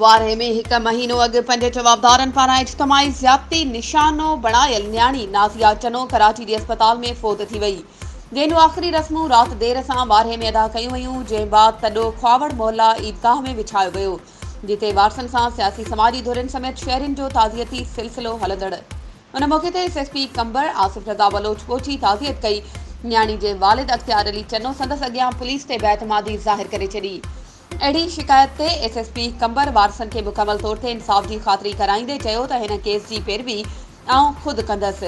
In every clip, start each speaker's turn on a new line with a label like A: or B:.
A: وارهي ۾ هڪ مهينو اڳ پنهنجي جوابدارن پاران اجتماعي زيادتي نشانو بڻايل نياڻي نازيا چنو ڪراچي جي اسپتال ۾ فوت ٿي وئي جنهن جون آخري رسمون رات دير سان وارهي ۾ ادا ڪيون ويون جنهن بعد تڏو کواوڙ محلا عيدگاهه ۾ وڇايو ويو جتي وارثن سان سياسي سماجي ڌرين سميت شهرين جو تعزيتي سلسلو هلندڙ ان موقعي تي S S P Qambar Asif Raza Baloch پهچي تعزيت ڪئي نياڻي جي والد اختيار علي چنو سندس اڳيان پوليس تي بيعتمادي ظاهر ڪري ڇڏي اهڙي شڪايت تي ايس ايس پي قمبر وارثن کي مڪمل طور تي انصاف جي خاطري ڪرائيندي چيو ته هن ڪيس جي پيروي آئون خود ڪندس.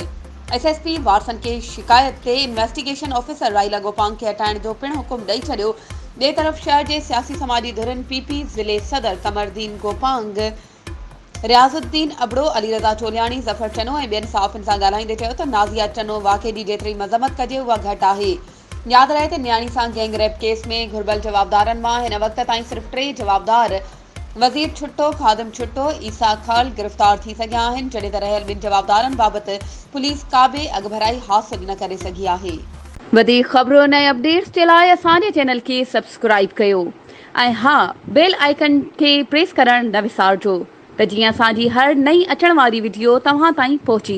A: ايس ايس پي وارسن ڪي شڪايت تي انويسٽيگيشن آفيسر رائي لگوپانگ کي هٽائڻ جو پڻ حڪم ڏئي ڇڏيو. ٻئي طرف شهر جي سياسي سماجي ڌرين پي پي ضلعي صدر قمردين گوپانگ، رياض الدين ابڙو، علي رضا چولياڻي، ظفر چنو ۽ ٻين صحافين سان ڳالهائيندي چيو ته نازيا چنو واقعي جي جيتري مذمت ڪجي اها گهٽ آهي. ياد رهي ته نياڻي سان گينگ ريپ ڪيس ۾ گهربل جوابدارن مان هن وقت تائين صرف ٽي جوابدار وزير ڇٽو، خادم ڇٽو، عيسيٰ خال گرفتار ٿي سگهيا آهن، جڏهن ته رهيل ٻن جوابدارن بابت پوليس ڪابه اڳڀرائي حاصل نه ڪري سگهي آهي. وڌيڪ خبرن ۽ اپڊيٽس جي لاء اسان جي چينل کي سبسڪرائيب ڪيو ۽ ها بيل آئيڪن کي پريس ڪرڻ نه وسارجو ته جيئن اسان جي هر نئين اچڻ واري وڊيو توهان تائين پهچي